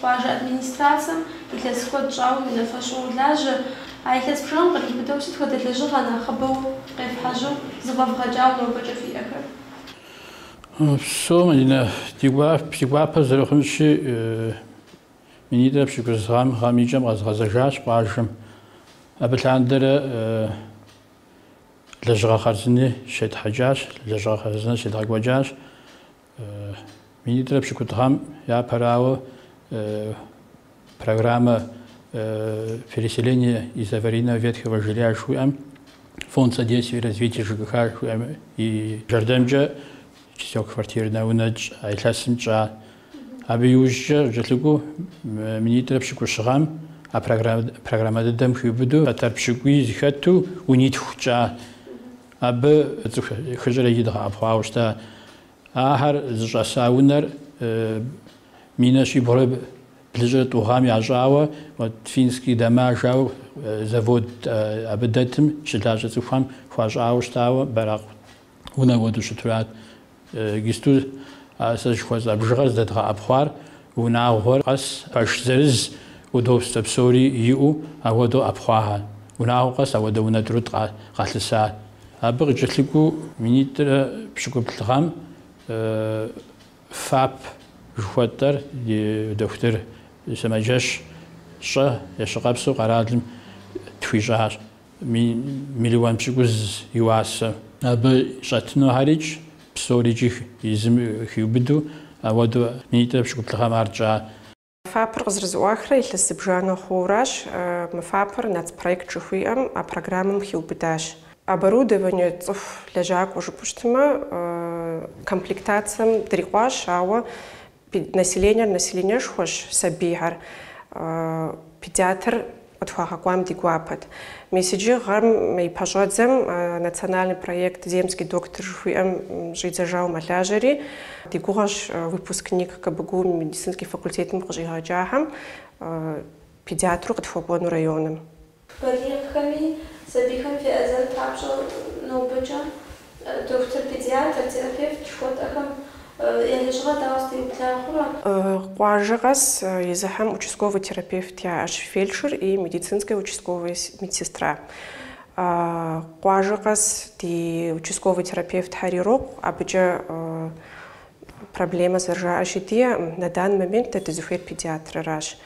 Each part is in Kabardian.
Къуажэ администрацэм илъэс куэд щӏауэ унафэщӏу уолажьэ. А илъэс бжыгъэм къриубыдэу сыт хуэдэ лэжьыгъэ нэхъыбэу къефхьэжьу зэфӏэвгъэкӏауэ нобэкӏэ фиӏэхэр? Псоми ди гуапэ зэрыхъунщи, минитӏрэ пщыкӏуз гъэм, гъэм и кӏэм къэзгъэзэжащ къуажэм. Абы лъандэрэ лэжьыгъэ хъарзыни щетхьэкӏащ, лэжьыгъэ хъарзыни щедгъэкӏуэкӏащ. Минитӏрэ пщыкӏутӏ гъэм япэрауэ программэ переселения из аварийного ветхого жилья жыхуиӏэм фонд содействия и развития ЖКХ жыхуиӏэм и жэрдэмкӏэ четырехквартирнэ унэкӏ а илъэсым тщӏа. Абы иужькӏэ къыкӏэлъыкӏуэу минитӏрэ пщыкӏущ гъэм а программэ дыдэм хиубыдэу фэтэр пщыкӏуий зыхэту унитху тщӏа. Абы цӏыху хыщӏрэ и дгъэӏэпхъуауэ щыта. Ахэр зыщӏэса унэр минэ щибгъурэ блыщӏрэ тӏу гъэм ящӏауэ финский дома жаӏэу завод абы дэтым щылажьэ цӏыхухэм хуащӏауэ щытауэ, бэракъ унэ уэдэу щытурат. Иджысту а сэ жыхуэсӏа бжыгъэр здэдгъэӏэпхъуар, унагъуэр къэс пэш зырыз удобствэ псори иӏэу ауэдэу ӏэпхъуахэ, унагъуэ къэс ауэдэу унэ тӏурытӏ къалъыса. Абы къыкӏэлъыкӏуэу минитӏрэ пщыкӏуплӏ гъэм ФАП жыхуэтӏэр ди дохутыр сымаджэщ щӏэ ещыкъэпсу къэралым тхуищӏащ. миллион пщыкӏуз и уасэ. Абы щӏэтынухэрикӏ псорикӏи езым хиубыдэу, ауэдэу минитӏрэ пщыкӏуплӏ гъэм ар тщӏа. Мы фапыр къызэрызэӏуахрэ илъэс зыбжанэ хъууращ, мы фапыр нацпроект жыхуиӏэм а программэм хиубыдащ. Оборудование цӏыху лэжьакӏуэ жыпӏэу щытмэ, комплектацэм дрикъуащ, ауэ Педнаселениер населениешхуэщ, сабийхэр. Педиатр къытхуагъэкӏуам ди гуапэт. Мис иджы гъэм и пэщӏэдзэм национальный проект Земский доктор жыхуиӏэм щӏидзэжауэ мэлажьэри, ди гугъэщ выпускник КБГУ медицинский факультетым къыщӏигъэкӏахэм педиатру къытхуэкӏуэну районым. Балигъхэми сабийхэми феӏэзэн папщӏэ нобэкӏэ дохутыр-педиатр, терапевт жыхуэтӏэхэм я лэжьыгъэр дауэ зэтеубла хъурэ? Къуажэ къэс езыхэм участковый терапевт яӏэщ, фельдшер и медицинская участковая медсестра. Къуажэ къэс ди участковый терапевтхэр ирокъу, абыкӏэ Проблемэ зэрыжаӏэщи диӏэкъым. На данный момент дэ дызыхуейр педиатрыращ.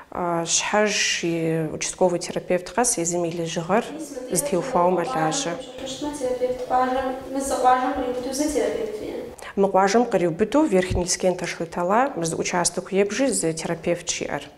Щхьэж и участковый терапевт къэс езым и лэжьыгъэр зытеухуауэ мэлажьэ. Къапщтэмэ, терапевт къуажэм, мы зы къуажэм къриубыдэу зы терапевт фиӏэ? Мы къуажэм къриубыдэу Верхний Лескен, Ташлы-Тала, мы зы участокыу ебжи зы терапевтщ иӏэр.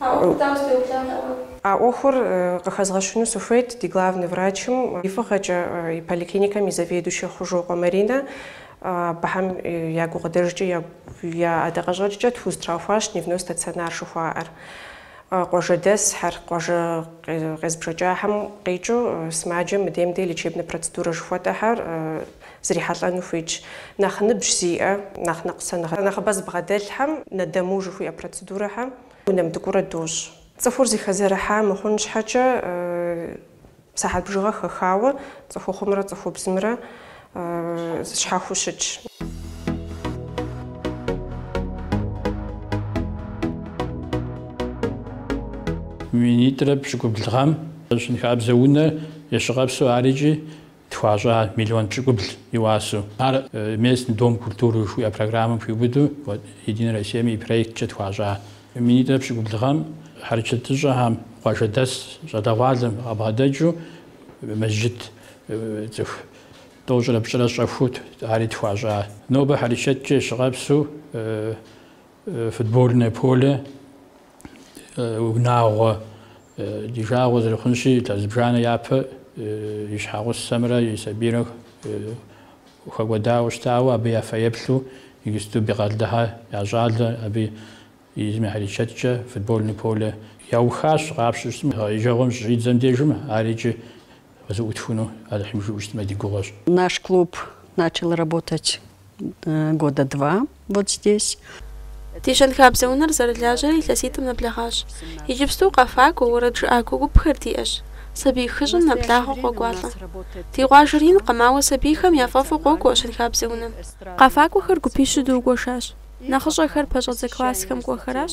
А ӏуэхур дауэ зытеублам нэӏэ? А ӏуэхур къыхэзгъэщыну сыхуейт ди главный врачым и фӏыгъэкӏэ, и поликлиникэм и заведующэ Хъужокъуэ Маринэ. Абыхэм я гукъыдэжкӏэ, я ӏэдакъэщӏэкӏкӏэ тхузэтраухуащ дневной стационар жыхуаӏэр. Къуажэдэсхэр, къуажэ къезбжэкӏахэм къикӏыу сымаджэм мыдейм-дей лечебнэ процедурэ жыхуэтӏэхэр, Зрихьэлӏэну хуитщ нэхъ ныбжь зиӏэ, нэхъ ныкъусаныгъэ нэхъыбэ зыбгъэдэлъхэм на дому жыхуиӏэ процедурэхэм унэм дыкӏуэурэ дощӏ. Цӏыхур зыхэзэрыхьа мыхъун щхьэкӏэ, сыхьэт бжыгъэ хэхауэ цӏыхухъумрэ цӏыхубзымрэ щхьэхуэу щытщ. Минитӏрэ пщыкӏубл гъэм щэнхабзэ унэр щӏэрыпсу ар икӏи тхуащӏа миллион пщыкӏубл и уасэу. Ар Местный дом культуры жыхуиӏэ программэм хиубыдэу Единая Россием и проекткӏэ тхуащӏа минитӏрэ пщыкӏубл гъэм хьэрычэтыщӏэхэм къуажэдэс щӏалэгъуалэм къабгъэдэкӏыу мэжджыт цӏыху тӏощӏрэ пщӏырэ щӏэхуэу ари тхуащӏа. Нобэ хьэрычэткӏэ щӏэрыпсу футбольное поле. унагъуэ ди жагъуэ зэрыхъунщи, илъэс зыбжанэ япэ и щхьэгъусэмрэ и сабийрэ хэкӏуэдауэ щытауэ, абы я фэеплъу иджыпсту Бекъалдыхэ я щӏалэ, абы езым и хьэрычэткӏэ футбольный поле яухащ, къапщтэу щытмэ, гъэ еджэгъуэм щыщӏидзэм дежым, ар икӏи Къызэӏутхыну Алыхьым жиӏэу щытмэ ди гугъэщ. Наш клуб начал работать года два вот здесь. Ди щэнхабзэ унэр зэрылажьэрэ илъэситӏым нэблэгъащ. Иджыпсту къэфакӏуэ, уэрэд жыӏакуэ гупхэр диӏэщ. Сабий хыщӏым нэблагъэ къокӏуалӏэ. Ди къуажэр инкъым, ауэ сабийхэм я фӏэфӏу къокӏуэ щэнхабзэ унэм. Къэфакӏуэхэр гупищу дгуэшащ. Нэхъыщӏэхэр пэщӏэдзэ классхэм кӏуэхэращ.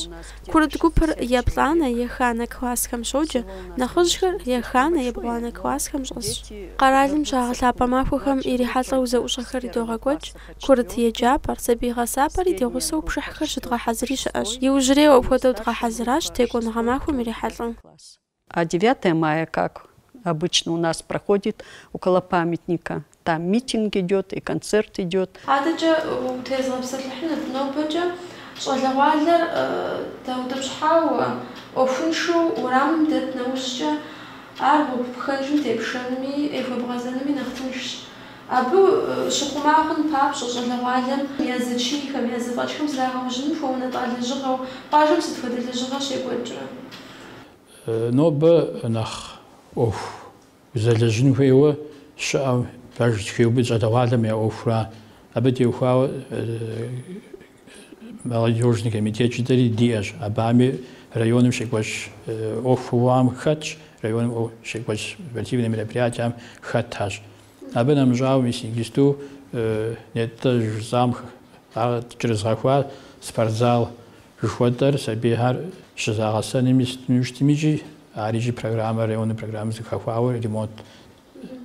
Курыт гупыр еплӏанэ, еханэ классхэм щоджэ, нэхъыжьхэр еханэ, ебгъуанэ классхэм щӏэсщ. Къэралым щагъэлъапӏэ махуэхэм ирихьэлӏэу зэӏущӏэхэри догъэкӏуэкӏ, курыт еджапӏэр, сабий гъэсапӏэри ди гъусэу пшыхьхэр щыдгъэхьэзыри щыӏэщ. Иужьрейуэ апхуэдэу дгъэхьэзыращ Текӏуэныгъэ махуэм ирихьэлӏэу. А девятое мая как обычно у нас проходит около памятника там митинг идёт и концерт идёт. Адэкӏэ утезгъэпсэлъыхьынут нобэкӏэ щӏалэгъуалэр даутӏыпщхьауэ ӏуэхуншэу уэрамым дэт нэужькӏэ ар гъуэгу пхэнжым тепшэнми ехуэбгъэзэнми нэхъ тыншщ. Абы щыхъума хъун папщӏэ щӏалэгъуалэм я зэчийхэм, я зэфӏэкӏхэм зрагъэужьыным хуэунэтӏа лэжьыгъэу къуажэм сыт хуэдэ лэжьыгъэ щекӏуэкӏрэ? Нобэ нэхъ ӏуэху узэлэжьын хуейуэ щыӏэу, пэж хеубыдэ щӏалэгъуалэм я ӏуэхура, абы теухуауэ молодёжный комитет жытӏэри диӏэщ, абыхьэми районым щекӏуэкӏ ӏуэхугъуэхэм хэтщ, районым ӏуэху щекӏуэкӏ спортивнэ мероприятиям хэтащ. Абы нэмыщӏауэ, мис иджысту нетӏэ жысӏам ар кӏэрызгъэхуар спортзал Жыхуэтӏэр сабийхэр щызагъэсэным истми щытми икӏи ар икӏи программэ, районнэ программэ зыхэхуауэ ремонт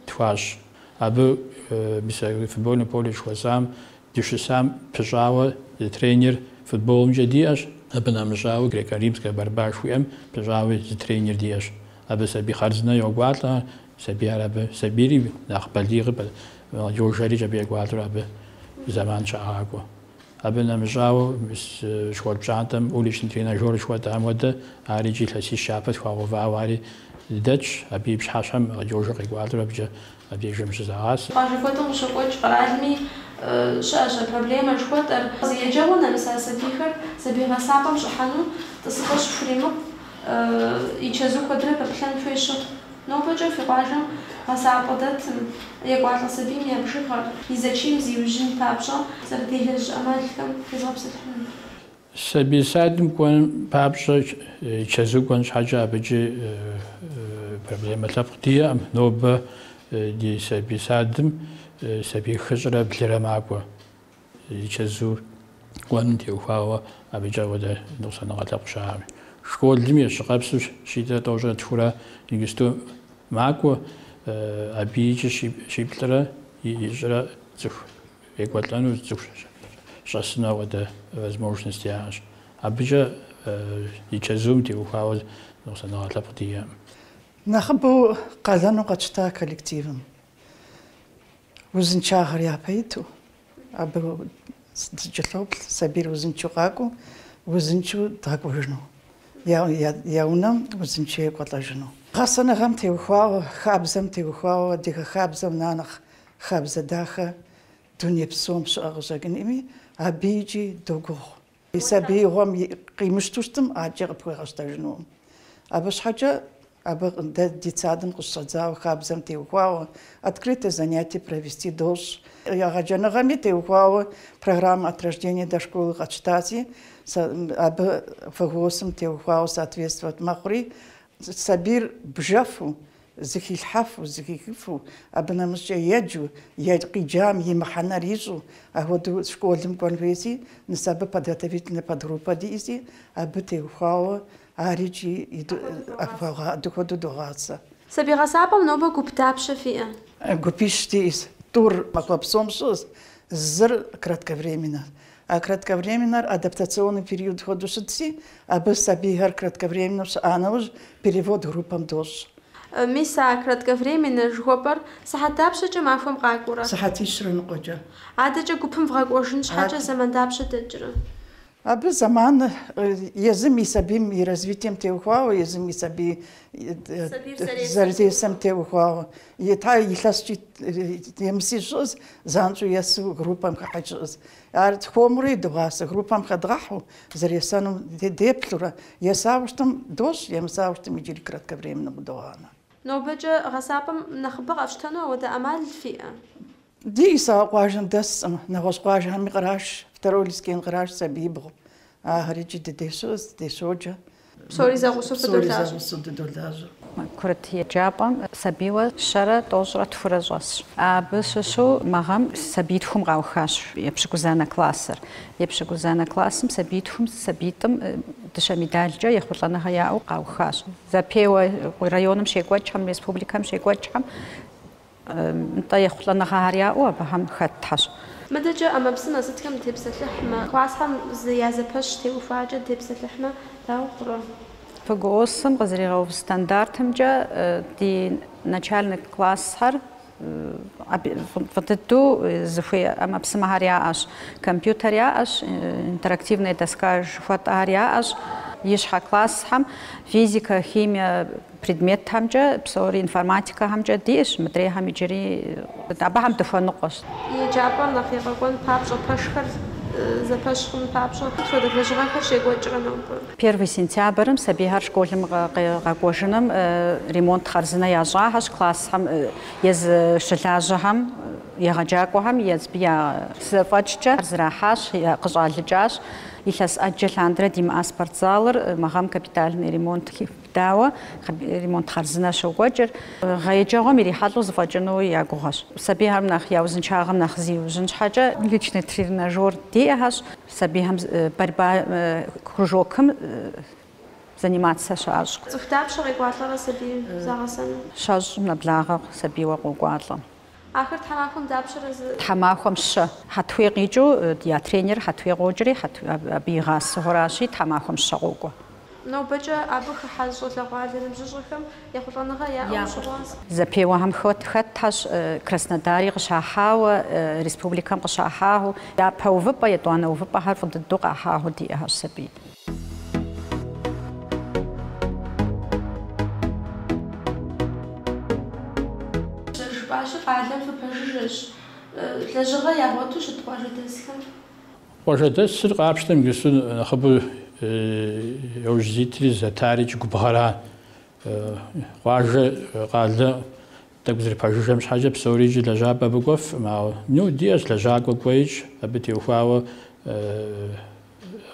тхуащӏ. Абы мис а футбольнэ поле жыхуэсӏам дыщысам пыщӏауэ зы тренер футболымкӏэ диӏэщ, абы нэмыщӏауэ Греко-Римская борьба жыхуиӏэм пыщӏауи зы тренер диӏэщ. Абы сабий хъарзынэ йокӏуалӏэ, сабийхэр абы, сабийри, нэхъ балигъи, молодежьэри къекӏуалӏэурэ абы зэман щагъакӏуэ. Абы нэмыщӏауэ, школ пщӏантӏэм уличный тренажёр жыхуэтӏам хуэдэ, ар иджы илъэсищ япэ тхуагъэувауэ ари дэтщ. Абы и пщыхьэщхьэм молодёжыр къекӏуалӏэурэ абыкӏэ абдежым щызагъасэ. Къуажэ куэдым къыщокӏуэкӏ къэралми щыӏэщ а проблемэр жыхуэтӏэр. Еджэгъуэ нэмыса сабийхэр сабий гъэсапӏэм щӏыхьэну тӏысыпӏэ щыхуримыкъу, и чэзу куэдрэ пэплъэн хуей щыхъу. Нобэкӏэ фи къуажэм гъэсапӏэ дэтым, екӏуалӏэ сабийм я бжыгъэр и зэчийм зиужьын папщӏэ зэрыделэжь ӏэмалхэм утезгъэпсэлъыхьынут. Сабий садым кӏуэн папщӏэ чэзу кӏуэн щхьэкӏэ абыкӏи проблемэ лъэпкъ диӏэкъым. Нобэ ди сабий садым сабий хыщӏрэ блырэ макӏуэ. И чэзу кӏуэным теухуауэ абыкӏэ апхуэдэ ныкъусаныгъэ лъэпкъ щыӏэкъым. Школым и щӏы къэпсу щитӏрэ тӏощӏрэ тхурэ иджысту макӏуэ, абы икӏи щиплӏрэ хыщӏрэ цӏыху екӏуэлӏэну, цӏыху щӏэсыну апхуэдэ возможность яӏэщ. Абыкӏэ и чэзум теухуауэ ныкъусаныгъэ лъэпкъ диӏэкъым. Нэхъыбэу къалэну къэтщта коллективым. Узыншагъэр япэ иту, абы дыкӏэлъоплъ сабийр узыншэу къакӏуэу, узыншэу дгъэкӏуэжыну, я унэм узыншэу екӏуэлӏэжыну. Гъэсэныгъэм теухуауэ, хабзэм теухуауэ, адыгэ хабзэм на нэхъ хабзэ дахэ дуней псом щыӏэ къыщӏэкӏынкъыми, абы икӏи догугъу. И сабиигъуэм къимыщту щытым ӏаджэ къыпхуигъэщтэжынукъым. Абы щхьэкӏэ абы дэ ди садым къыщыщӏэдзауэ хабзэм теухуауэ открытое занятие провести дощӏ. Егъэджэныгъэми теухуауэ программэ от рождения до школы къэтщтаси, абы ФГОС-м теухуауэ соответствует мэхъури, сабийр бжэфу, Зыхилъхьэфу, зыхихыфу, абы нэмыщӏкӏэ еджэу, къиджам и мыхьэнэр ищӏу, ахуэдэу школым кӏуэн хуейси, мис абы подготовительнэ подгруппэ диӏэси, абы теухуауэ ар икӏи апхуэгъа-апхуэдэ хуэдэу догъасэ. Сабий гъэсапӏэм нобэ гуп дапщэ фиӏэ? Гупищ диӏэщ, тӏур махуэ псом щыӏэщ, зыр кратковременнэщ, А кратковременнэр адаптационный период хуэдэу щытси, абы сабийхэр кратковременнэу щыӏа нэужь, перевод группэм дощӏ. Мис а кратковременнэ жыхуэпӏэр сыхьэт дапщэкӏэ махуэм къакӏуэрэ? Сыхьэтищрэ ныкъуэкӏэ. Адэкӏэ гупым вгъэкӏуэжын щхьэкӏэ зэман дапщэ дэкӏрэ? Абы зэман езым и сабийм и развитием теухуауэ, езым и сабий зэрыдесэм теухуауэ. Ита илъэскӏи емыси щыӏэс, занщӏэу есу группэм хыхьи щыӏэс. Ар хуэмурэ догъасэ группэм хэдгъэхьу, зэресэнум деплъурэ, есауэ щытым дощӏ, емысауэ щытым иджыри кратковременнэм къыдогъанэ. Нобэкӏэ гъэсапӏэм нэхъыбэ къэфщтэну ахуэдэ ӏэмал фиӏэ? Диӏэс, ауэ къуажэм дэсӏым, нэгъуэщӏ къуажэхэми къраш, Второй Лескен къраш сабиибгъу, ахэр икӏи ди деж щыӏэщ, ди деж щоджэ. Псори зэгъусэу Псори фыдолажьэ. зэгъусэу дыдолажьэ. Курыт еджапӏэм сабийуэ щэрэ тӏощӏрэ тхурэ щӏэсщ. Абы щыщу мы гъэм сабийтхум къаухащ епщыкӏузанэ классыр. Епщыкӏузанэ классым сабийтхум сабиитӏым дыщэ медалкӏэ ехъулӏэныгъэ яӏэу къаухащ. Зэпеуэ районым щекӏуэкӏхэм, республикэм щекӏуэкӏхэм Нтӏэ, ехъулӏэныгъэхэр яӏэу абыхэм хэтхэщ. Мыдэкӏэ ӏэмэпсымэ сытхэм дытепсэлъыхьмэ? Классхэм зы я зэпэщ теухуакӏэ дытепсэлъыхьмэ, дауэ хъурэ? ФГОС-м къызэригъэув стандартымкӏэ ди начальнэ классхэр фӏы дыдэу зыхуей ӏэмэпсымэхэр яӏэщ. Компьютер яӏэщ, интерактивная доска жыхуэтӏэхэр яӏэщ. Ищхьэ классхэм физикэ, химие, Предметхэмкӏэ псори, информатикэхэмкӏэ диӏэщ, мыдрейхэм иджыри абыхэм дыхуэныкъуэщ. Еджапӏэр нэхъ ефӏэкӏуэн папщӏэ, пэшхэр зэпэщ хъун папщӏэ, сыт хуэдэ лэжьыгъэхэр щекӏуэкӏрэ нобэ? Первый сентябрым сабийхэр школым къекӏуэжыным ремонт хъарзынэ ящӏахэщ классхэм езы щылажьэхэм, егъэджакӏуэхэм езы я зэфӏэкӏкӏэ зэрахьащ, къыщӏалыкӏащ. Илъэс ӏэджэ лъандэрэ димыӏа спортзалыр мы гъэм капитальный ремонт хэхуащ. Дауэ, ремонт хъарзынэ щокӏуэкӏ гъэ еджэгъуэм ирихьэлӏэу зыфӏэкӏыну я гугъэщ. Сабийхэм нэхъ я узыншагъэм нэхъ зиужьын щхьэкӏэ личный тренажёр диӏэхэщ, сабийхэм борьба кружокым занимацэ щащӏ. Цӏыху дапщэ къекӏуалӏэрэ сабийм загъэсэну? Щэщӏ нэблагъэ сабийуэ къокӏуалӏэ. Ахэр тхьэмахуэм дапщэрэ зы. Тхьэмахуэм щэ. Хьэтуей къикӏыу я тренер Хьэтуей къокӏри, абы игъасэхэращи, тхьэмахуэм щэ къокӏуэ. Нобэкӏэ абы хыхьа зыщӏэлъэгъуа щӏалэ ныбжьыщӏэхэм ехъулӏэныгъэ яӏэу щыт. Зэпеуэхэм хэтхэщ Краснодари къыщахьауэ, республикэм къыщахьауэ, япэ увыпӏэ, етӏуанэ увыпӏэхэр фӏы дыдэу къахьауэ диӏэхэщ сабий. Зэрыжыпӏащи, къалэм фыпэжыжьэщ. Лэжьыгъэ ягъуэту щыт къуажэдэсхэр? Къуажэдэсыр къапщтэм иджыстуу нэхъыбэу яужь зитри зитари икӏи губгъэращ. Къуажэ, къалэ тӏэкӏу зэрыпэжыжьэм щхьэкӏэ псори икӏи лэжьапӏэ абы кӏуэфым, ауэ ну диӏэщ лэжьакӏуэ кӏуэи икӏи абы теухуауэ.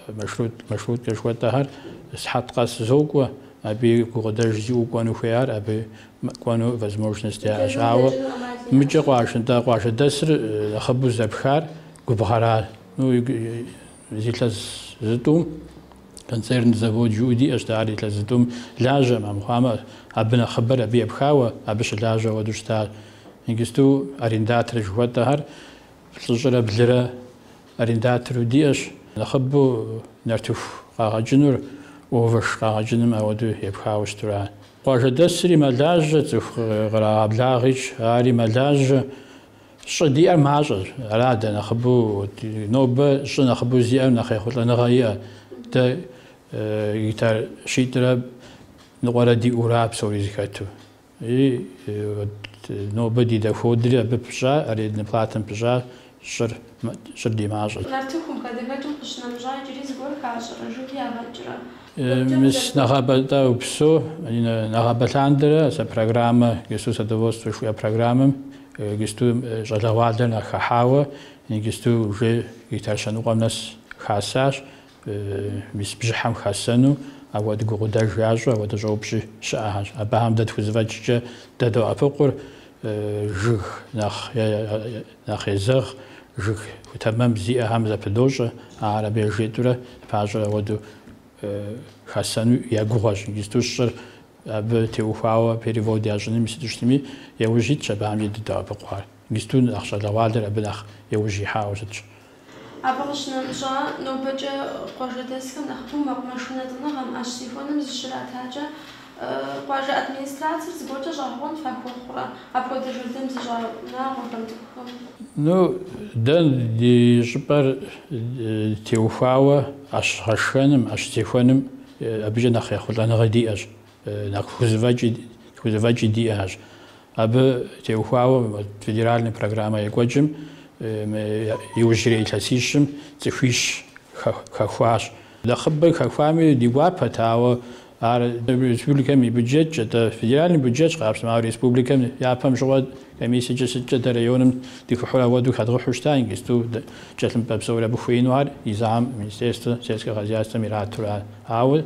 Маршрут, маршруткэ жыхуэтӏэхэр сыхьэт къэс зокӏуэ, абы и гукъыдэж зиӏэу кӏуэну хуейр абы кӏуэну возможность яӏэщ. Ауэ мыкӏэ къуажэдэ, къуажэдэсыр нэхъыбэу зэпхар губгъэра. Ну, илъэс зытӏум концерн завод жыӏэу диӏэщ дэ, ар илъэс зытӏум лажьэ мыхъуамэ абы нэхъыбэр абы епхауэ, абы щылажьэ хуэдэу щыта. Иджысту арендатор жыхуэтӏэхэр плӏыщӏрэ блырэ Арендатору диӏэщ, нэхъыбэу нартыху къагъэкӏыным овэш къагъэкӏыным ауэдэу епхауэ щыту ара. Къуажэдэсри мэлажьэ, цӏыху кърагъэблагъэ икӏи, ари мэлажьэ. Щӏы диӏэр мащӏэщ, ара дэ нэхъыбэу, нобэ щӏы нэхъыбэу зиӏэм нэхъ ехъулӏэныгъэ иӏэ, дэ гектар щитӏрэ ныкъуэрэ диӏэу аращ псори зэхэту. И нобэ ди доходри абы пыщӏа, аренднэ платэм пыщӏа щӏыр, щӏыр ди мащӏэщ. Нартыхум хадэхэкӏым къыщынэмыщӏа иджыри зыгуэр хащӏэрэ, жыг ягъэкӏрэ? Мис нэгъабэ упсэу, нэгъабэ лъандэрэ сэ программэ иджысту садоводство жыхуиӏэ программэм иджысту щӏалэгъуалэр нэхъ хыхьауэ, иджысту уже гектар щэныкъуэм нэс хасащ. Мис бжьыхьэм хасэну ауэдэ гукъыдэж ящӏу ауэдэ щӏэупщӏи щыӏэхэщ. Абыхэм дэ тхузэфӏэкӏкӏэ дадоӏэпыкъур жыг нэхъ е нэхъ езэгъ, жыг питомник зиӏэхэм зэпыдощӏэ, ахэр абы яжетӏэурэ пащэу ауэдэу хасэну я гугъуэщ. Иджысту щӏыр абы теухуауэ перевод ящӏыным сыту щытми, яужь итщ абыхэми дадоӏэпыкъур. Ингисту нэхъ щӏалэгъуалэр абы нэхъ яужь ихьауэ щытщ. Абы къыщынэмыщӏа, нобэкӏэ къуажэдэсхэм нэхъыбэу мэкъумэшынэ лӏэныгъэм, ӏэщ зехуэным зыщратакӏэ, къуажэ администрацэр зыгуэркӏэ щӏэгъэкъуэн фахуэхъурэ, апхуэдэ жылэм зыщӏа унагъуэхэм цӏыхухэм? Ну, дэ ди щӏыпӏэр теухуауэ ӏэщ гъэшхэным, ӏэщ зехуэным абыкӏэ нэхъ ехъулӏэныгъэ диӏэщ. Нэхъ тхузэфӏэкӏи диӏэщ. Абы теухуауэ федеральнэ программэ екӏуэкӏым иужьрей илъэсищым цӏыхуищ хэхуащ. Нэхъыбэ хэхуами ди гуапэт, ауэ ар республикэм и бюджетщ, атӏэ федеральнэ бюджетщ къапщтэмэ, ауэ республикэм япэм щыгъуэ комиссиекӏэ сыткӏэ дэ районым дыхыхьур ауэду хэдгъэхьу щыта, ингисту тхылъымпӏэ псори абы хуеину ар езым Министерствэ сельскэ хозяйствэм иратурэ. Ауэ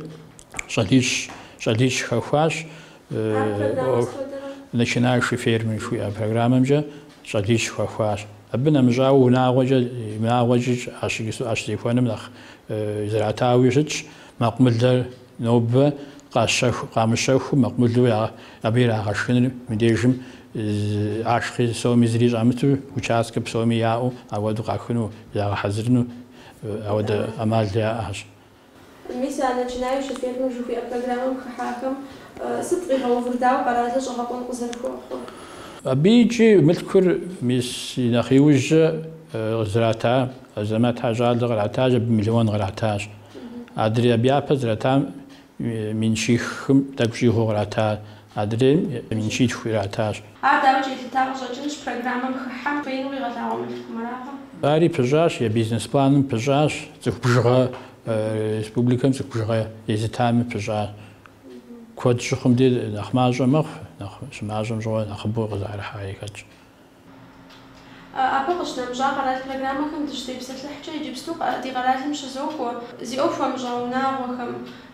Щӏалищ, щӏалищ хэхуащ Начинающий фермер жыхуиӏэ программэмкӏэ щӏалищ хэхуащ. Абы нэмыщӏауэ унагъуэкӏэ, унагъуэкӏи ӏэщ зехуэным нэхъ зэратауи щытщ. Мэкъумылэр нобэ къамыщэхуу, мэкъумылу абы ирагъэшхыныр мыбдежым ашхъи соми зыри щӏамыту, участкэ псоми яӏэу, ауэду къахыну, загъэхьэзырыну ауэдэ ӏэмал яӏэщ. Мис а Начинающий фермер жыхуиӏэ программэм хыхьахэм сыт къигъэувыр, дауэ къэралыр щӏэгъэкъуэн къызэрыхуэхъур? Абы икӏи мылъкур мис и нэхъ иужь зрата Азэмэтхэ я щӏалэ къратащ, абы миллион къратащ. Адрей абы япэ зратам мин щихым тӏэкӏу щӏигъуу къратащ. Адрейм мин щитху иратащ. Ар дауи елъыта къыщӏэкӏынщ, программэм хыхьэм хуейуэ къигъэлъагъуэ мылъкум аракъэ? Ари пыщӏащ, я бизнес планым пыщӏащ, цӏыху бжыгъэ, республикэм цӏыху бжыгъэ езытами пыщӏащ. Куэд щыхъум де нэхъ мащӏэ мэхъу, нэхъ щымащӏэм щыгъуэ нэхъыбэу къызэрыхьари хэтщ. Абы къыщынэмыщӏа къэрал программэхэм дыщытепсэлъыхькӏэ иджыпсту ди къэралым щызокӏуэ. Зи ӏуэху хуэмыщӏа унагъуэхэм,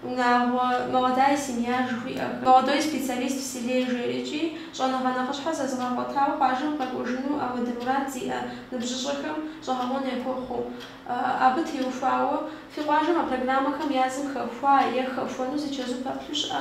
унагъуэ, молодая семья жыхуиӏэхэм, молодой специалист в селе жери икӏи щӏэныгъэ нэхъыщхьэ зэзыгъэгъуэтауэ къуажэм къэкӏуэжыну ауэдэ мурад зиӏэ ныбжьыщӏэхэм щӏэгъэкъуэн яхуэхъуу. Абы теухуауэ, фи къуажэм а программэхэм язым хэхуа е хэхуэну зи чэзу пэплъу щыӏэ?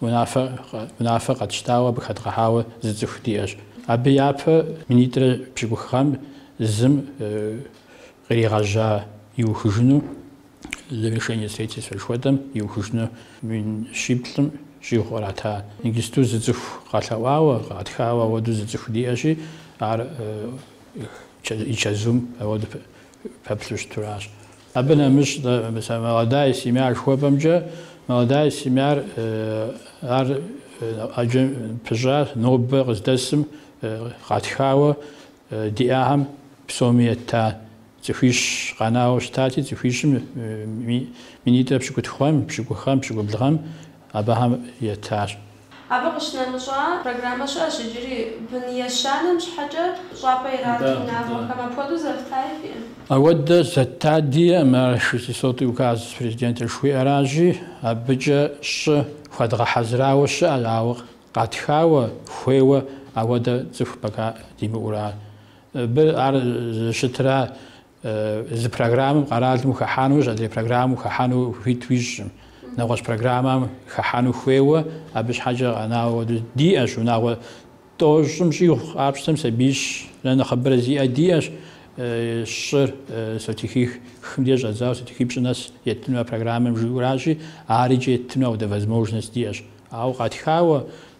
Унафэ къэтщтауэ абы хэдгъэхьауэ зы цӏыху диӏэщ. Абы япэ минитӏрэ пщыкӏух гъэм зым къригъэжьа иухыжыну, завершение строительства жыхуэтӏэм, иухыжыну мин щиплӏым щӏигъу кърата. Ингисту зы цӏыху къэлъэӏуауэ, къатхауэ ауэду зы цӏыху диӏэщи, ар и чэзум ауэду пэплъу щытуращ. Абы нэмыщӏ Молодая семья жыхуэпӏэмкӏэ, Молодая семьяр ар ӏэджэ пыщӏа нобэ къыздэсым къатхауэ диӏахэм псоми етта цӏыхуищ къэнауэ щытати, цӏыхуищым минитӏрэ пщыкӏутху гъэм, пщыкӏух гъэм, пщыкӏубл гъэм абыхэм етащ. Абы къыщынэмыщӏа программэ щыӏэщ иджыри, бын ещанэм щхьэкӏэ щӏапӏэ ират унагъуэхэм. Апхуэдэу зэфтаи фиӏэ? Ауэдэ зэтта диӏэм, шестисотый указ президента жыхуиӏэращи, абыкӏэ щӏы хуэдгъэхьэзырауэ щыӏэщ, ауэ къатхауэ, хуейуэ ауэдэ цӏыху пока димыӏура. Абы ар зыщытра Зы программэм къэралым ухыхьэнущ, адрей программэм ухыхьэну хуит уищӏым. Нэгъуэщӏ программэм хыхьэну хуейуэ, абы щхьэкӏэ къэнауэ диӏэщ, унагъуэ тӏощӏым щӏигъу къапщтэм сабиищрэ нэхъыбэрэ зиӏэ диӏэщ, щӏыр сотихихым де щӏэдзауэ сотихипщӏы нэс еттыну а программэм жиӏуращи, ар икӏи еттыну ауэдэ возможность диӏэщ. Ауэ къатхауэ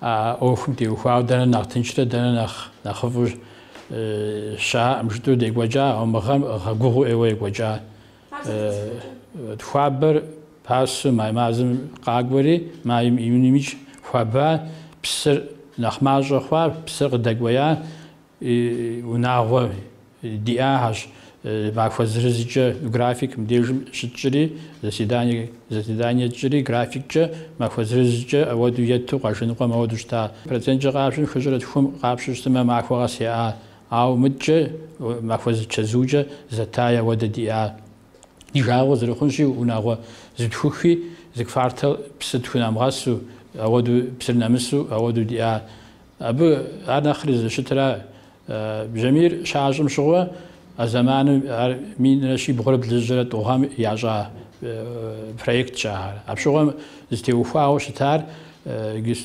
А ӏуэхум теухуауэ дэнэ нэхъ тыншрэ дэнэ нэхъ нэхъыфӏу щаӏэм жытӏэу декӏуэкӏа, ауэ мы гъэм гъэгугъуу ӏейуэ екӏуэкӏа. Хуабэр пасэу май мазэм къакӏуэри, майм июнымикӏ хуаба, псыр нэхъ мащӏэ хъуа, псыр къыдэкӏуея, и унагъуэ диӏагъэщ, махуэ зырызкӏэ график мыбдежым щытщӏри, заседание заседание тщӏыри графиккӏэ, махуэ зырызкӏэ ауэду етту къуажэ ныкъуэм ауэду щыта. Проценткӏэ къащтэм хыщӏрэ тхум къапщтэу щытмэ махуэ къэс яӏа, ауэ мыдкӏэ махуэ зы чэзукӏэ зэттаи ауэдэ диӏа. Ди жагъуэ зэрыхъунщи унагъуэ зытхухи, зы квартал псы тхунэмыгъэсу, ауэду псыр нэмысу ауэду диӏа. Абы ар нэхъри зыщытра, бжьамийр щащӏым щыгъуэ, а зэманым ар минрэ щибгъурэ блыщӏрэ тӏу гъэм ящӏа проектщ ахэр. Апщыгъуэм зытеухуауэ щытар,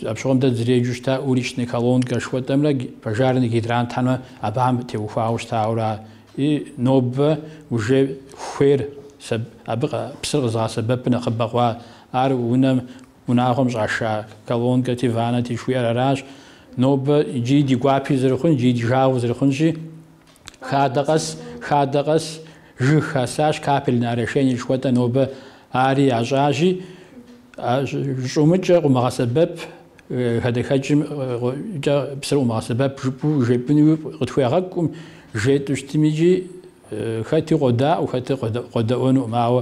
апщыгъуэм дэ дызэреджэу щыта уличная колонка жыхуэтӏэмрэ пожарный гидрантхэмрэ абыхэм теухуауэ щытауэра, и нобэ уже хуейр абы псыр къэзыгъэсэбэпу нэхъыбэ хъуа, ар унэм Унагъуэм щӏаша колонкэти, ванэти жыхуиӏэр аращ. Нобэ иджыри ди гуапи зэрыхъун, иджыри ди жагъуи зэрыхъунщи, хадэ къэс, хадэ къэс жыг хасащ, капельное орошение жыхуэтӏэ нобэ ари ящӏащи, щӏумыкӏэ къумыгъэсэбэп, хадэхэкӏымкӏэ псыр къумыгъэсэбэп жыпӏэу жепӏынуи къытхуегъэкӏум, жетӏу щытмикӏи хэти къодаӏуэ, хэти къодэӏуэнукъым, ауэ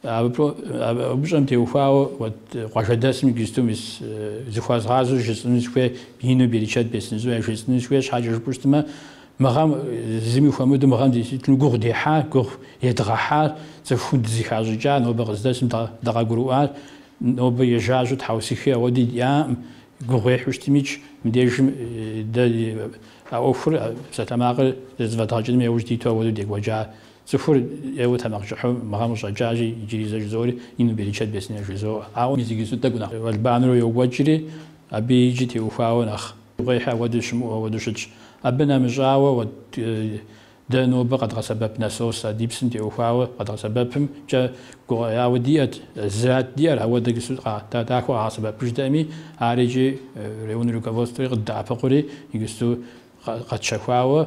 Абы упщӏэм теухуауэ уэт къуажэдэсым иджысту мис зыхуэзгъазэу жысӏыну сыхуей, ину берычэт бесын яжесӏыну сыхуей щхьэкӏэ жыпӏэу щытмэ, мы гъэм зыми хуэмыдэу мы гъэм действительно гугъу дехьа, гугъу едгъэхьа, цӏыхум дызыхащӏыкӏа, нобэ къыздэсым дыкъагурыӏуа, нобэ ежажьэу тхьэусыхи ауэди диӏакъым, гугъуехьу щытмикӏ, мыбдежым дэ а ӏуэхур, псалъэмакъыр зэфӏэдгъэкӏыным яужь диту ауэдэу декӏуэкӏа. Цӏыхур ӏейуэ тэмакъкӏыхьу мыгъэм къыщӏэкӏащи, иджыри зэ жызоӏэри ину берычэт бесын жызоӏэ. Ауэ мис иджыри сыт тӏэкӏу нэхъ уэлбанэурэ йокӏуэкӏри, абы иджы теухуауэ нэхъ гугъуехьи апхуэдэу щымыӏэу апхуэдэу щытщ. Абы нэмыщӏауэ, уэ дэ нобэ къэдгъэсэбэп насос а ди псым теухуауэ къэдгъэсэбэпымкӏэ гугъэяуэ диӏэт, зэат диӏэр, ауэ дэ гысу дахэу къагъэсэбэпыжтэкъыми, ар иджы район руководствэри къыддэӏэпыкъури, гысу къэтщэхуауэ,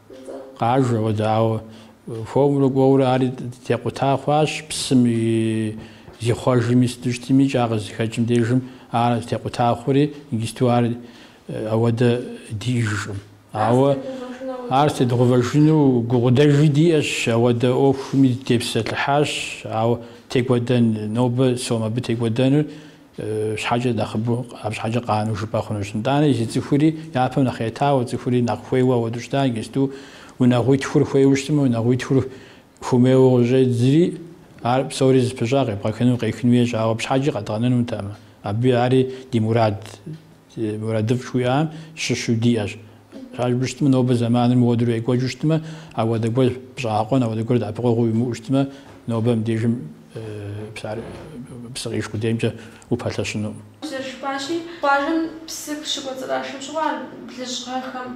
Къажэ, ауэдэ, ауэ хуэмурэ кӏуэурэ ари текъута хъуащ псым зихъуэжми сыту щытми кӏа къызыхэкӏым дежым ар текъута хъури, иджысту ар ауэдэ диӏэжкъым. Ауэ ар тедгъувэжыну гукъыдэжи диӏэщ, ауэдэ ӏуэхуми дытепсэлъыхьащ, ауэ текӏуэдэн, нобэ сом абы текӏуэдэнур щхьэкӏэ нэхъыбэу абы щхьэкӏэ къанэу жыпӏэ хъунущ. Итӏанэ езы цӏыхури япэм нэхъ етауэ, цӏыхури нэхъ хуейуэ ауэду щыта, иджысту унагъуитхур хуейуэ щытмэ, унагъуитхур хуэмейуэ къыщӏедзри, ар псори зыпыщӏа къебгъэхыну, къехын хуейщ, ауэ абы щхьэкӏи къэдгъэнэнутэкъым. Абы ари ди мурад, мурадыфӏ жыхуиӏам щыщу диӏэщ. Щӏалбжу щытмэ, нобэ зэманыр мыуэдурэ екӏуэкӏыу щытмэ, ауэдэ гуэр щӏэгъэкъуэн, ауэдэ гуэр дэӏэпыкъуэгъуу уимыӏэу щытмэ, нобэ мыбдежым псы къишх къудеймкӏэ упэлъэщынукъым. Зэрыжыпӏащи, къуажэм псы щыкӏуэцӏрашым щыгъуэ а блыщӏ гъэхэм,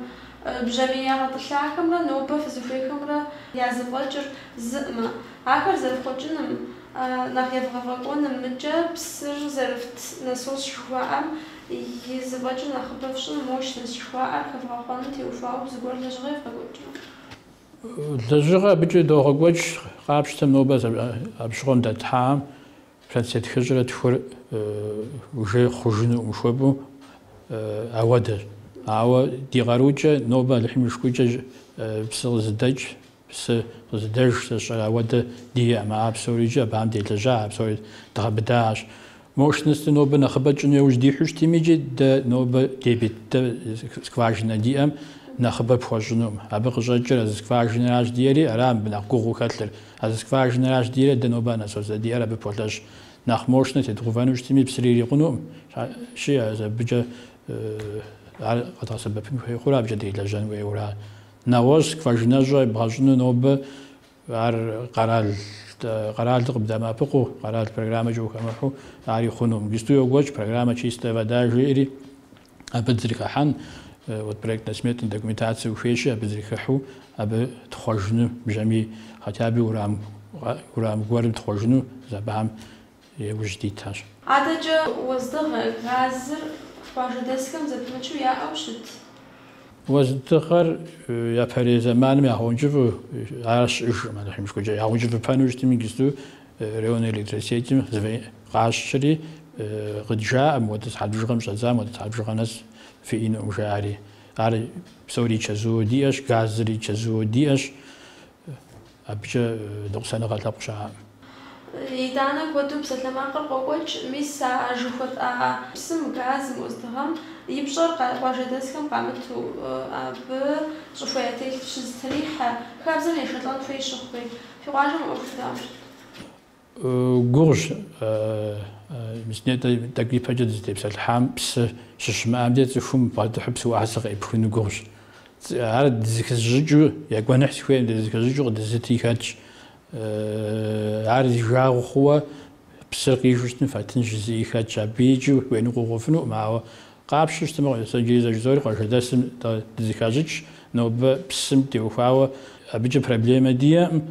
бжьамий ягъэтӏылъахэмрэ нобэ фызыхуейхэмрэ я зэфӏэкӏыр зыкъым, ахэр зэрыфхъуэкӏыным, нэхъ евгъэфӏэкӏуэным, мыкӏэ псыр зэрыфт насос жыхуаӏэм, И зэфӏэкӏым нэхъыбэ фщӏым мощность жыхуаӏэр хэвгъэхъуэным теухуауэ зыгуэр лэжьыгъэ евгъэкӏуэкӏрэ? Лэжьыгъэ абыкӏэ догъэкӏуэкӏ, къапщтэмэ нобэ абы щыгъуэм дэтлъхьам процент тхыщӏрэ тхур уже хъужынукъым жыхуэпӏэу ауэдэщ. Ауэ ди къарукӏэ нобэ Алыхьым и шыкуркӏэ псы къызыдэкӏ Псы къызыдэж зэщӏэр ауэдэ диӏэм, а псори иджы абыхэм делэжьа, а псори дгъэбыдащ. Мощность дэ нобэ нэхъыбэ тщӏын яужь дихьу щытми, иджы дэ нобэ дебит дэ скважинэ диӏэм нэхъыбэ пхуэщӏынукъым. Абы къыщӏэкӏыр а зы скважинэращ диӏэри, ара мыбы нэхъ гугъуу хэлъыр. А зы скважинэращ диӏэрэ дэ нобэ а насосу диӏэр абы полъэщ. Нэхъ мощнэ тедгъэувэну щытми, псыри ирикъунукъым. Щыӏэщи, абыкӏэ ар къэдгъэсэбэпын хуей хъурэ абыкӏэ делэжьэн хуейуэ ара? Нэгъуэщӏ скважинэщӏэ ебгъэщӏыну нобэ ар къэрал къэралыр къыбдэмыӏэпыкъуу, къэрал программэкӏэ ухэмыхьу ари хъунукъым. Иджысту йокӏуэкӏ программэ Чистая вода жиӏэри, абы дызэрыхыхьэн, вот проектно-сметнэ документацие ухуейщи, абы дызэрыхыхьу абы тхъуэжыну бжьамий, хотя бы уэрам уэрам гуэрым тхъуэжыну, зэбам. Иужь дитащ. Адэкӏэ уэздыгъэр, газыр къуажэдэсхэм зэпымычу яӏэу щыт. Уэздыгъэр япэрей зэманым ягъэункӏыфӏу ар щыӏэжкъым, ар химыщкӏуэкӏэ ягъэункӏыфӏыпэну щытым иджысту районнэ электросетьым къащщри, къыджаӏэм, ауэдэ сыхьэт бжыгъэм щӏэдзам ауэдэ сыхьэт бжыгъэ нэс фиӏэнукъым жаӏэри. Ар псори чэзууэ диӏэщ, газри чэзууэ диӏэщ. Абыкӏэ ныкъусаныгъэ лъэпкъ щыӏэкъым. Итӏанэ куэду псалъэмакъыр къокӏуэкӏ, мис а жыхуэтӏа псым, газым, уэздыгъэм и пщӏэр къуажэдэсхэм къамыту, абы щӏыхуэ ятелъ щызытрихьэ хабзэм ешэлӏэн хуей щыхъуи, фи къуажэм ӏуэхур дауэ щыт. Гугъущ, тӏэкӏу ипэкӏэ дызытепсэлъыхьам псы щыщымыӏэм деж цӏыхум бгъэдыхьу псы уасэ къеӏыпхыну гугъущ. Ар дызыхызыщӏыкӏыу, екӏуэныхь сыхуейм, дызыхызыщӏыкӏыу къыдэзытри хэтщ. Ар зи жагъуэ хъууэ псыр къижу щытым фэттынщ жызыӏи хэтщ. Абы икӏи уеныкъуэкъуфынукъым, ауэ Къапщтэу щытмэ, сэ иджыри зэ жызоӏэри къуажэдэсым дызыхащӏыкӏщ, нобэ псым теухуауэ абыкӏэ проблемэ диӏэкъым.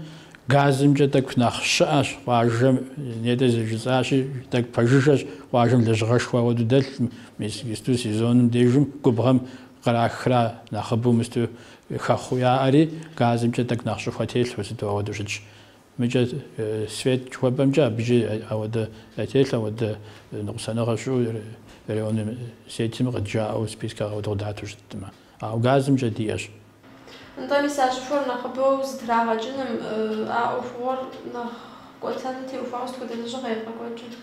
Газымкӏэ тӏэкӏу нэхъ щыӏэщ къуажэм, нетӏэ зэрыжысӏащи, тӏэкӏу пэжыжьэщ, къуажэм лэжьыгъэшхуэ ауэду дэлъкъым, мис исту сезоным дежым губгъэм кърахра нэхъыбэу мысту хэхъуэу яӏэри, газымкӏэ тӏэкӏу нэхъ щӏыхуэ телъу сыту ауэду щытщ. Мыкӏэ Свет жыхуэпӏэмкӏэ абыкӏи ауэдэ ятелъ, ауэдэ ныкъусаныгъэ щыӏэу районым сетми къыджаӏэу спискэ ауэдэ къыдату щыткъым. Ауэ газымкӏэ диӏэщ. Нтӏэ, мис а щӏыхуэр нэхъыбэу зытрагъэкӏыным, а ӏуэхугъуэр нэхъ кӏуэтэным теухуауэ сыт хуэдэ лэжьыгъэ евгъэкӏуэкӏыр?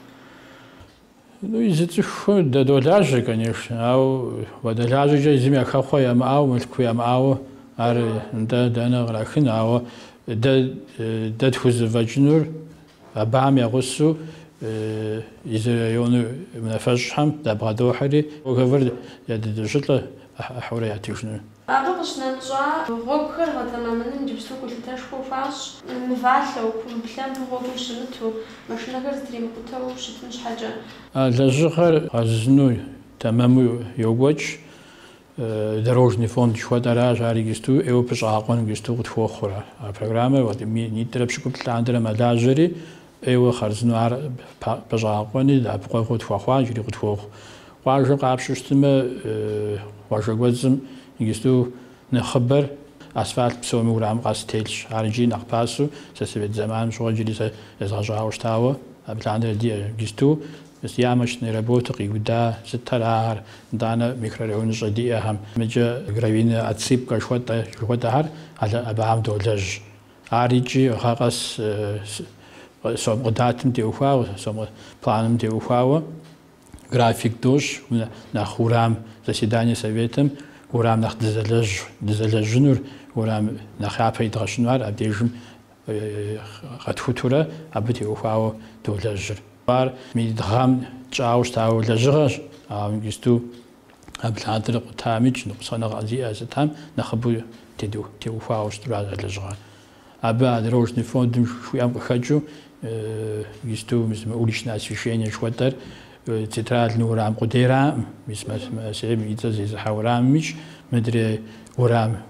Ну, езы цӏыхухэм дадолажьэ, конечно, ауэ уадэлажьэкӏэ езым я хэхъуэ ямыӏауэ, мылъку ямыӏауэ ар нтӏэ дэнэ кърахын, ауэ дэ дэ тхузэфӏэкӏынур абам ягъусэу из районым и унафэщӏхэм дабгъэдохьэри, договор ядыдощӏылӏэ ӏыхьэурэ ятыжыну. Абы къыщнэмыщӏа гъуэгухэр гъэтэмэмыным иджыпсту гулъытэшхуэ хуащӏ, мывалъэу, кумб-лъэмбым гъуэгум щымыту, машинэхэр зытримыкъутэу щытын щхьэкӏэ. А лэжьыгъэр гъэзызыну тэмэму йокӏуэкӏ, Дорожный фонд жыхуэтӏэращ, ар иджысту ӏейуэ щӏэгъэкъуэн иджысту къытхуохъурэ. А программэр вот минитӏрэ пщыкӏуплӏ лъандэрэ мэлажьэри, ӏейуэ хъарзынэу ар пэщӏагъэкъуэни, дэӏэпыкъуэгъуэу тхуэхъуа иджыри къытхуохъу. Къуажэр къапщтэу щытымэ, къуажэ кӏуэцӏым иджысту нэхъыбэр асфальт псоми урам къэс телъщ. Ар иджыри нэхъ пасэу, сэ совет зэманым щыгъуэ иджыри сэ езгъэщӏауэ щытауэ, абы лъандэрэ диӏэ. Иджысту ямочные работы къиуда сыт ара, итӏанэ микрорайоныщӏэ диӏэхэм? Мыкӏэ гравийнэ отсыпка жыхуэтӏэ жыхуэтӏэхэр абыхэм долэжь. Ар икӏи гъэ къэс сом къыдатым теухуауэ, мы планым теухуауэ график дощӏ нэхъ урам заседание советым урам нэхъ дызэлэжьынур, урам нэхъ япэ идгъэщыну ар абдежым къэтхутурэ абы теухуауэ долэжьыр. Ар мы гъэм тщӏауэ щытауэ лэжьыгъэщ, ауэ иджысту абы лъандэрэ къутамикӏ ныкъусаныгъэ зиӏэ сытхэм нэхъыбэу теухуауэ щытыр а лэжьыгъэ. Абы а Дорожный фондым жыхуиӏэм къыхэкӏыу иджысту мы уличное освещение жыхуэтӏэр центральный урам къудейраӏым, мис Мэсейм и цӏэ зезыхьэ урамымикӏ, мыдрей урам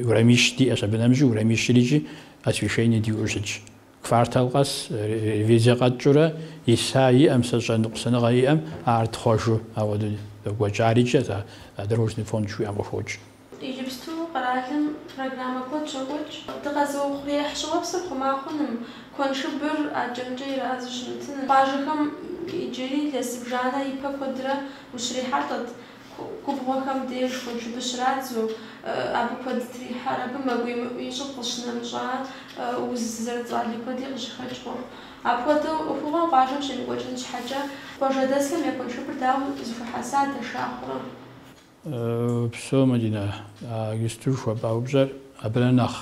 урамищ диӏэщ, абы нэмыщӏи урамищырикӏи освещение диӏэу щытщ. Квартал къэс ревизие къэтщӏурэ иса иӏэм, сэ щӏэ ныкъусаныгъэ иӏэм ар тхъуэжу ауэдэу йокӏуэкӏ, арикӏэ, сэ а Дорожный фонд жыхуиӏэм къыхокӏ. Иджыпсту къэралым программэ куэд щокӏуэкӏ. Дыкъэзыухъуреихь щӏыуэпсыр хъума хъуным, куэншыбыр акӏэ-мыкӏэ ирадзу щымытыным. Къуажэхэм иджыри илъэс зыбжанэ ипэ куэдрэ ущрихьэлӏэт. Губгъуэхэм деж куэншыбыр щрадзу, абы куэд трихьэр. Абы мэ гуемыӏу ищӏым къыщынэмыщӏа уз зэрыцӏали куэди къыщыхэкӏ хъуху. Апхуэдэу ӏуэхугъуэм къуажэм щемыкӏуэкӏын щхьэкӏэ, къуажэдэсхэм я куэншыбыр дауэ зэхуэхьэса, дэша хъурэ? Упсэу, Мадинэ, иджысту жыхуэпӏа упщӏэр абырэ нэхъ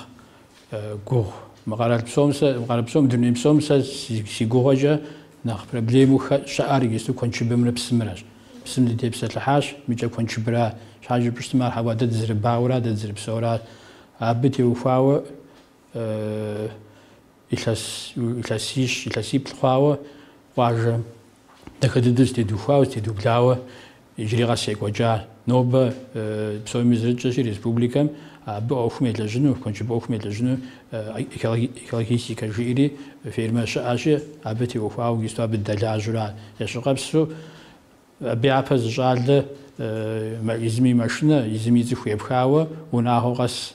гугъу. Мы къэрал псом сэ, мы къэрал псом, дуней псом сэ си гугъэкӏэ нэхъ проблему щыӏэр иджыпсту куэншыбымрэ псымрэщ. Псым дытепсэлъыхьащ, мыкӏэ куэншыбра щхьэ жыпӏэу щытмэ, ар хьэуа дэ дызэрыбауэра, дэ дызэрыпсэура, абы теухуауэ илъэс, илъэсищ, илъэсиплӏ хъуауэ къуажэ Дахэ дыдэу зэтедухуауэ, зэтедублауэ иджыри къэс екӏуэкӏа нобэ псоми зэрытщӏэщи республикэм абы ӏуэхум елэжьыну, куэншыб ӏуэхум елэжьыну экологистикэ жиӏэри фирмэ щыӏэщи, абы теухуауэ иджыпсту абы дыдэлажьэурэ ящыкъэпсу, абы япэ зы щӏалэ езым и машинэ, езым и цӏыху епхауэ унагъуэ къэс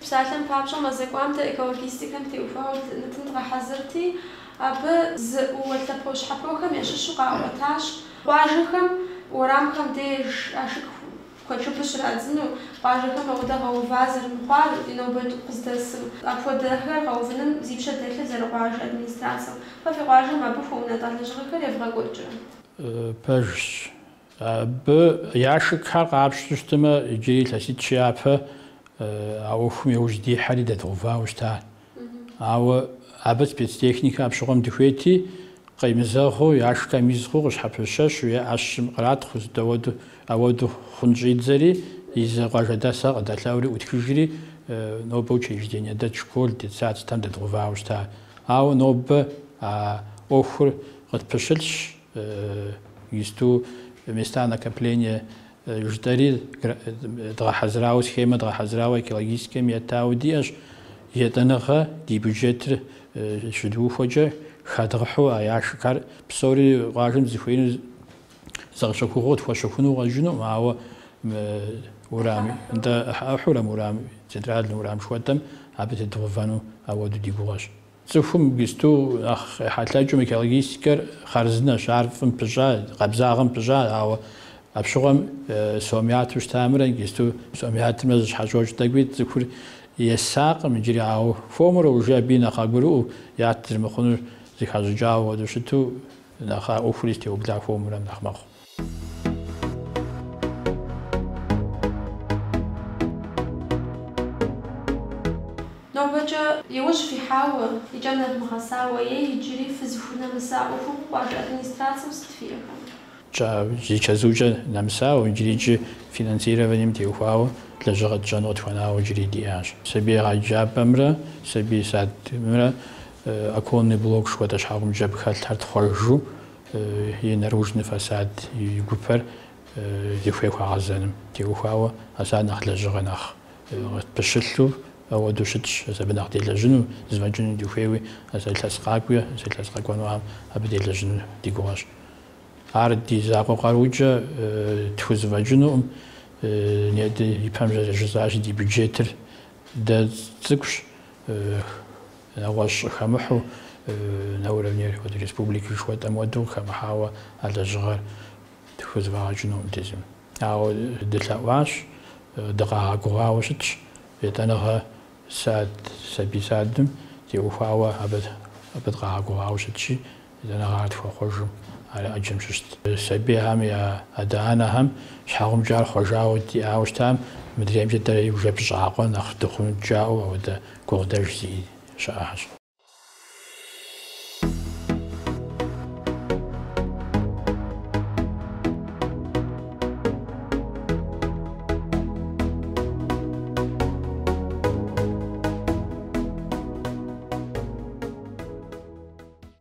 Псалъэм папщӏэ, мазэ кӏуам дэ экологистикэм теухуауэ нэтын дгъэхьэзырти, абы зыуэ лъэпощхьэпохэм ящыщу къаӏуэтащ, къуажэхэм уэрамхэм деж ашык куэншыбыр щрадзэну, къуажэхэм ауэдэ гъэува зэрымыхъуар ди нобэ къыздэсым, апхуэдэхэр гъэувыным зи пщэ дэлъыр зэрыкъуажэ администрацэм. Фэ фи къуажэм абы хуэунэтӏа лэжьыгъэхэр евгъэкӏуэкӏрэ? Пэжщ. Абы ящикхэр къапщту щытымэ, иджыри илъэситӏ-щы япэ а ӏуэхум иужь дихьэри дэдгъэувауэ щыта. Ауэ абы спецтехникэ апщыгъуэм дыхуейти, къемызэгъыу, ящикхэм из хъуу къыщхьэпыщэщу е ӏэщым къратхъуу зытӏэуэду ауэду хъун щӏидзэри, езы къуажэдэсхэр къыдэлъэӏури ӏутхыжри, нобэ учреждение дэт школ детсад сытхэм дэдгъэувауэ щыта. Ауэ нобэ а ӏуэхур къытпыщылъщ. Исту места накопления жытӏэри дгъэхьэзырауэ, схемэ дгъэхьэзырауэ экологистикэм еттауэ диӏэщ. Етӏэныгъэ ди бюджетыр щыдухуэкӏэ хэдгъэхьэу а ящикхэр псори къуажэм зыхуеину зэ къэщэхугъуэу тхуэщэхуну къыщӏэкӏынукъым, ауэ урам, нтӏэ ӏыхьэ-ӏыхьэурэ урам, центральнэ урам жыхуэтӏэм абы тедгъэувэну ауэду ди гугъэщ. Цӏыхум гисту нэхъ къехьэлъэкӏыу, мы экологистикэр хъарзынэщ, ар фӏым пыщӏа, къабзагъэм пыщӏа, ауэ апщыгъуэм сом яту щытамрэ гисту сом ятымрэ зыщхьэщокӏ тӏэкӏуи цӏыхур есакъым иджыри, ауэ хуэмурэ уже абыи нэхъ къагурыӏуэу ят зэрымыхъунур зыхащӏыкӏауэ хуэдэу щыту нэхъ а ӏуэхури зэтеубла хуэмурэм нэхъ мэхъу. Нобэкӏэ иужь фихьауэ, и кӏэ нэвмыгъэсауэ е иджыри фызыхунэмыса ӏуэхугъуэ къуажэ администрацэм сыт фиӏэхэм? Пщӏэ, зи чэзукӏэ нэмысауэ, иджырикӏи финансированием теухуауэ лэжьыгъэ тщӏэну къытхуэнауэ иджыри диӏащ. Сабий егъэджапӏэмрэ сабий садмрэ оконный блок жыхуэтӏэ щхьэгъубжэ абы хэлъхэр тхъуэжу, и наружный фасад, и гупэр зыхуей хуагъэзэным теухуауэ ас ар нэхъ лэжьыгъэ нэхъ пыщылъу ауэду щытщ, ас абы нэхъ делэжьыну, зэфӏэкӏыну дыхуейуи, ас илъэс къакӏуи, ас илъэс къэкӏуэнухэм абы делэжьыну ди гугъэщ. Ар ди закъуэ къарукӏэ тхузэфӏэкӏынукъым, нетӏэ ипэм зэрыжысӏащи, ди бюджетыр дэ цӏыкӏущ, нэгъуэщӏ хэмыхьэу на уровне хуэдэ республикэ жыхуэтӏэм уэду къыхэмыхьауэ а лэжьыгъэр тхузэфӏэгъэкӏынукъым дэ езым. Ауэ дылъэӏуащ, дыкъагъэгугъауэ щытщ, етӏэныгъэ сад, сабий садым теухуауэ абы дыкъагъэгугъауэ щытщи, Зэнэкъагъэ тхуэхъуэжым ар ӏэджэм щыщт сабийхэм я адэ-анэхэм щхьэгъубжэ ар хъуэжауэ диӏауэ щытам, мыдреймкӏэ дэ игу жэпыщӏакъуэ нэхъ дыхъунут жаӏэу апхуэдэ гукъыдэж зиӏи щыӏэщ.